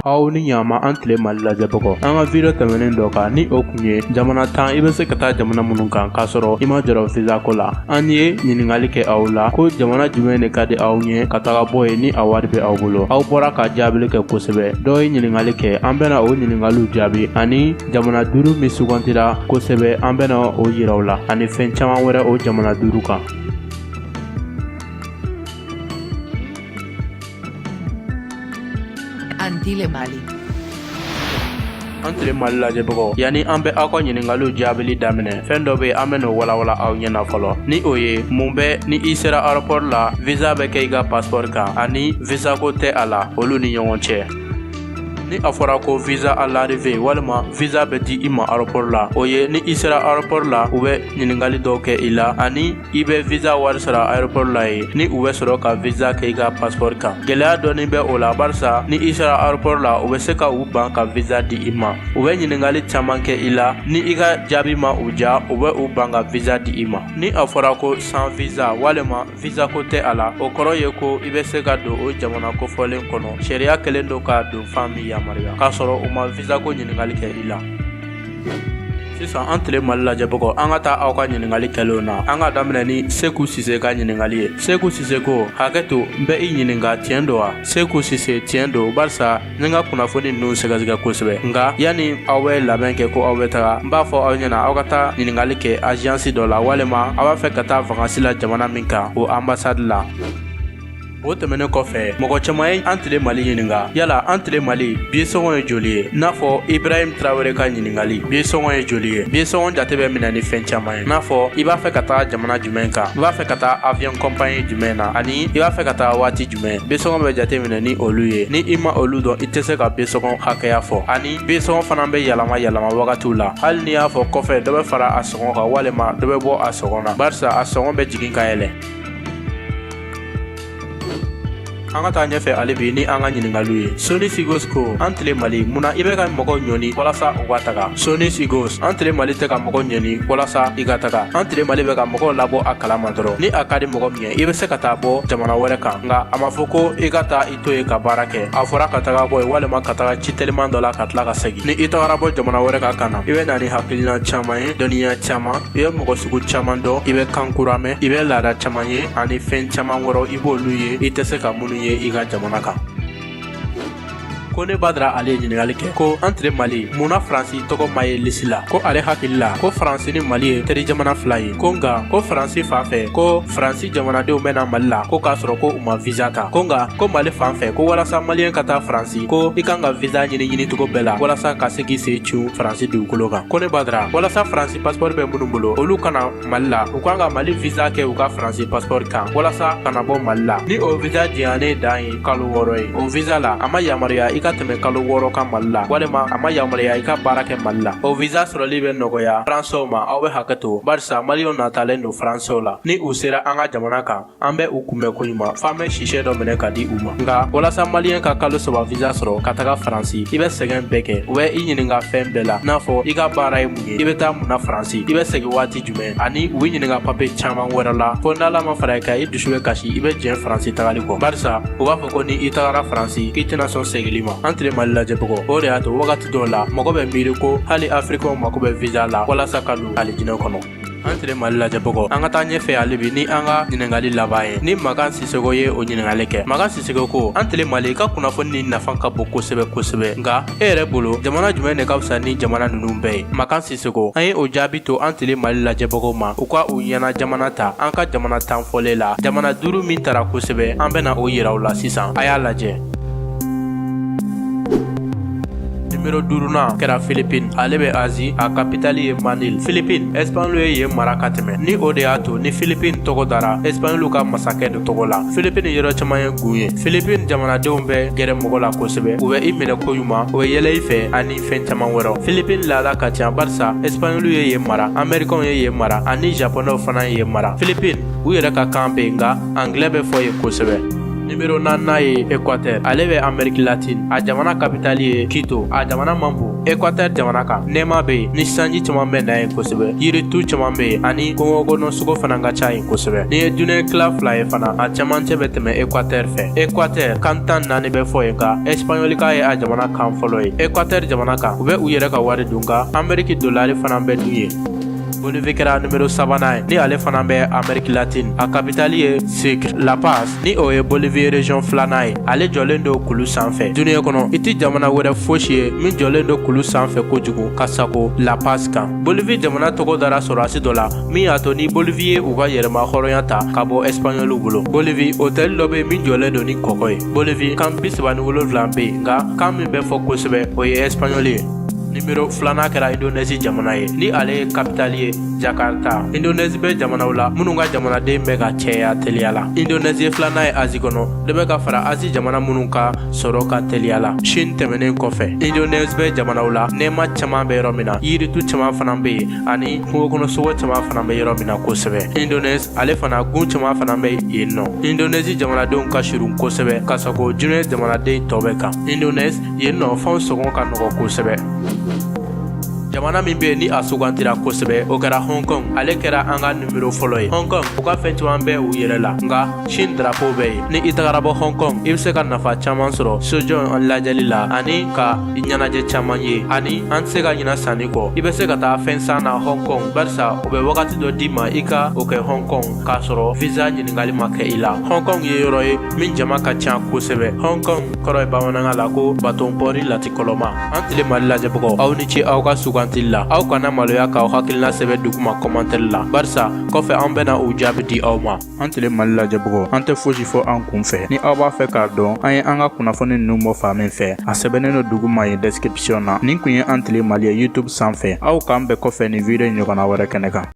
aw ni ɲama an tile mali lajɛbagaw an ka video tɛmɛnen dɔ kan ni o kun ye jamana tan i bɛ se ka taa jamana minnu kan k'a sɔrɔ i ma jɔrɔ visa ko la an ye ɲininkali kɛ aw la ko jamana jumɛn de ka di aw ɲɛ ka taga bɔ yen ni a wari bɛ aw bolo aw bɔra ka jaabili kɛ kosɛbɛ dɔw ye ɲininkali kɛ an bɛna o ɲininkaliw jaabi ani jamana duuru min sugantila kosɛbɛ an bɛna o yira aw la ani fɛn caman wɛrɛ o jamana duuru kan Antile Mali. an tile mali lajɛbagaw yanni an bɛ aw ka ɲininkaliw jaabili daminɛ fɛn dɔ bɛ yen an bɛn'o walawala aw ɲɛna fɔlɔ ni o ye mun bɛ ni i sera aéroport la visa bɛ kɛ i ka passeport kan ani visa ko tɛ a la olu ni ɲɔgɔn cɛ ni a fɔra ko visa à l'arrivée walima visa bɛ di i ma aéroport la o ye ni i sera aéroport la u bɛ ɲininkali dɔw kɛ i la ani i bɛ visa wari sara aéroport la yen ni u bɛ sɔrɔ ka visa kɛ i ka passeport kan gɛlɛya dɔɔni bɛ o la barisa ni i sera aéroport la u bɛ se ka u ban ka visa di i ma u bɛ ɲininkali caman kɛ i la ni i ka jaabi ma u ja u bɛ u ban ka visa di i ma ni a fɔra ko sans visa walima visa ko tɛ a la o kɔrɔ ye ko i bɛ se ka don o jamana kofɔlen kɔnɔ sariya kɛlen don ka don fan min yamaruya k'a sɔrɔ u ma visa ko ɲininkali kɛ i la sisan an tile mali lajɛbagaw an ka taa aw ka ɲininkali kɛlenw na an ka daminɛ ni seku sise ka ɲininkali ye seku sise ko hakɛ to n bɛ i ɲininka tiɲɛ don wa seku sise tiɲɛ don barisa n ka kunnafoni ninnu sɛgɛsɛgɛ kosɛbɛ nka yanni aw bɛ labɛn kɛ ko aw bɛ taga n b'a fɔ aw ɲɛna aw ka taa ɲininkali kɛ agence dɔ la walima aw b'a fɛ ka taa vacances la jamana min kan o ambassade la o tɛmɛnen kɔfɛ mɔgɔ caman ye an tile mali ɲininka yala an tile mali biye sɔngɔ ye joli ye n'a fɔ ibrahim tarawele ka ɲininkali biye sɔngɔ ye joli ye biye sɔngɔ jate bɛ minɛ ni fɛn caman ye n'a fɔ i b'a fɛ ka taa jamana jumɛn kan i b'a fɛ ka taa avion compagnie jumɛn na ani i b'a fɛ ka taa waati mɛ biye sɔngɔ bɛ jate minɛ ni olu ye ni i ma olu dɔn i tɛ se ka biye sɔngɔ hakɛya fɔ ani biye sɔngɔ fana bɛ yɛlɛma yɛlɛma wagatiw la hali n'i y'a fɔ kɔfɛ dɔ bɛ fara a sɔngɔ kan walima dɔ bɛ bɔ a sɔngɔ na barisa a sɔngɔ bɛ jigin ka yɛlɛn an ka taa ɲɛfɛ hali bi ni an ka ɲininkaliw ye soni sigos ko an tile mali munna i bɛ ka mɔgɔw ɲɔni walasa u ka taga soni sigos an tile mali tɛ ka mɔgɔ ɲɔni walasa i ka taga an tile mali bɛ ka mɔgɔw labɔ a kalama dɔrɔn ni a ka di mɔgɔ min i bɛ se ka taa bɔ jamana wɛrɛ kan nka a ma fɔ ko i ka taa i to yen ka baara kɛ a fɔra ka taga bɔ yen walima ka taga ci teliman dɔ la ka tila ka segin ni i tagara bɔ jamana wɛrɛ kan ka na i bɛ na ni hakilina caman ye dɔnniya caman i bɛ mɔgɔ sugu caman dɔn i bɛ kan kura mɛn i bɛ laada caman ye ani fɛn caman wɛrɛ i b'olu ye i tɛ se ka minnu ye i ka jamana kan kone badara ale ye ɲininkali kɛ ko an tile mali mun na faransi tɔgɔ ma ye lisi la ko ale hakili la ko faransi ni mali ye teri jamana fila ye ko nka ko faransi fan fɛ ko faransi jamanadenw bɛ na mali la ko k'a sɔrɔ ko u ma viza ta ko nka ko mali fan fɛ ko walasa maliyɛn ka taa faransi ko i kan ka viza ɲini ɲinicogo bɛɛ la walasa ka se k'i sen cun faransi dugukolo kan kone badara walasa faransi pasipɔri bɛ minnu bolo olu ka na mali la u kan ka mali visa kɛ u ka faransi paspɔri kan walasa ka na bɔ mali la ni o visa diyannen dan ye kalo wɔɔrɔ ye o visa la a ma yamaruya i ka tɛmɛ kalo wɔɔrɔ kan mali la walima a ma yamaruya i ka baara kɛ mali la o visa sɔrɔli bɛ nɔgɔya faransɛw ma aw bɛ hakɛ to barisa maliyɛnw natalen don faransɛw la ni u sera an ka jamana kan an bɛ u kunbɛn ko ɲuman f'an bɛ sisɛ dɔ minɛ ka di u ma nka walasa maliyɛn ka kalo saba visa sɔrɔ ka taga faransi i bɛ sɛgɛn bɛɛ kɛ u bɛ i ɲininka fɛn bɛɛ la n'a fɔ i ka baara ye mun ye i bɛ taa mun na faransi i bɛ segin waati jumɛn ani u b'i ɲininka papiye caman wɛrɛ la fo n'ala ma fara i kan i dusu bɛ kasi i bɛ jɛn faransi tagali kɔ barisa u b'a fɔ ko ni i tagara faransi k'i tɛna sɔn seginli ma an tile mali lajɛbagaw o de y'a to wagati dɔw la mɔgɔ bɛ miiri ko hali afirikɛnw mako bɛ visa la walasa ka don alijinɛ kɔnɔ an tile mali lajɛbagaw an ka taa ɲɛfɛ hali bi ni an ka ɲininkali laban ye ni makan sisoko ye o ɲininkali kɛ makan sisoko ko an tile mali i ka kunnafoni ni nafa ka bon kosɛbɛ kosɛbɛ nka e yɛrɛ bolo jamana jumɛn de ka fisa ni jamana nunu bɛɛ ye makan sisoko an ye o jaabi to an tile mali lajɛbagaw ma u ka u ɲɛna jamana ta an ka jamana tan fɔlen la jamana duru min tara kosɛbɛ an bɛna o yira aw la sisan a y'a lajɛ numero duurunan kɛra Philippines ale bɛ Asie a kapitali ye Manille Philippines Espagnol ye yen mara ka tɛmɛ ni o de y'a to ni Philippines tɔgɔ dara Espagnol ka masakɛ dɔ tɔgɔ la Philippines yɔrɔ caman ye gun ye Philippines jamanadenw bɛ gɛrɛ mɔgɔ la kosɛbɛ u bɛ i minɛ ko ɲuman u bɛ yɛlɛ i fɛ ani fɛn caman wɛrɛw Philippines laada ka ca barisa Espagnol ye yen mara Amerikɛnw ye yen mara ani Japonɛw fana ye yen mara Philippines u yɛrɛ ka kan bɛ yen nka Anglɛ bɛ fɔ yen kosɛbɛ Nimero naaninan ye Ekwatɛri. Ale bɛ Ameriki Latini. A jamana kapitali ye Kito. A jamana man bon. Ekwatɛri jamana kan nɛɛma bɛ yen ni sanji caman bɛ na yen kosɛbɛ. Yiritu caman bɛ yen ani kongokɔnɔsogo fana ka ca yen kosɛbɛ. N'i ye duniɲa tila fila ye fana, a camancɛ bɛ tɛmɛ Ekwatɛri fɛ. Ekwatɛri, kan tan naani bɛ fɔ yen nka Ɛsipaɲɔlikan ye a jamana kan fɔlɔ ye. Ekwatɛri jamana kan, u bɛ u yɛrɛ ka wari dun nka Ameriki dolari fana bɛ dun yen. Bolivie kɛra numero sabanan ye ni ale fana bɛ Amerique latine a kapitali ye Sucre La Paz ni o ye Bolivie region filanan ye ale jɔlen don kulu sanfɛ duniɲa kɔnɔ i tɛ jamana wɛrɛ fosi ye min jɔlen don kulu sanfɛ kojugu ka sagon La Paz kan Bolivie jamana tɔgɔ dara sɔrɔdasi dɔ la min y'a to ni Bolivie ye u ka yɛrɛma hɔrɔnya ta ka bɔ Espagnɔliw bolo Bolivie hôtel dɔ bɛ yen min jɔlen don ni kɔgɔ ye Bolivie kan bi saba ni wolonfila bɛ yen nka kan min bɛ fɔ kosɛbɛ o ye Espagnɔli ye nimero filanan kɛra indonɛzi jamana ye ni ale ye kapitali ye jakarta indonɛzi bɛ jamanaw la minnu ka jamanaden bɛ ka cɛya teliya la indonɛzi ye filanan ye azi kɔnɔ dɔ bɛ ka fara azi jamana minnu ka sɔrɔ kan teliya la shin tɛmɛnen kɔfɛ indonɛzi bɛ jamanaw la nɛɛma caman bɛ yɔrɔ min na yiritu caman fana bɛ yen ani kungokɔnɔsogo caman fana bɛ yɔrɔ min na kosɛbɛ indonɛzi ale fana gun caman fana bɛ yen nɔ indonɛzi jamanadenw ka surun kosɛbɛ ka sago diɲɛ jamanaden tɔ bɛɛ kan indonɛzi yen nɔ fɛnw sɔngɔ ka nɔgɔ kosɛbɛ jamana min bɛ ni a sugantira kosɛbɛ o kɛra hong kong ale kɛra an ka nimero fɔlɔ ye hong kong u ka fɛn caman bɛ u yɛrɛ la nka shin drapo bɛ yen ni i tagara bɔ hong kong i bɛ se ka nafa caman sɔrɔ so jan lajɛli la ani ka ɲɛnajɛ caman ye ani an tɛ se ka ɲina sanni kɔ i bɛ se ka taa fɛn san na hong kong barisa u bɛ wagati dɔ d'i ma i ka o kɛ hong kong k'a sɔrɔ visa ɲininkali ma kɛ i la hong kong ye yɔrɔ ye min jama ka ca kosɛbɛ hong kong kɔrɔ ye bamanankan la ko baton pɔri latikɔlɔma an tile mali lajɛbagaw aw ni ce aw ka sugantili la aw kana maloya k'aw hakilina sɛbɛn duguma kɔmantɛri la barisa kɔfɛ an bɛna u jaabi di aw ma an tile mali lajɛbagaw an tɛ fosi fɔ an kun fɛ ni aw b'a fɛ k'a dɔn an ye an ka kunnafoni nunu bɔ fan min fɛ a sɛbɛnnen do duguma yen deskripsiyɔn na nin kun ye an tile mali ye youtube sanfɛ aw k'an bɛn kɔfɛ nin video ɲɔgɔnna wɛrɛ kɛnɛ kan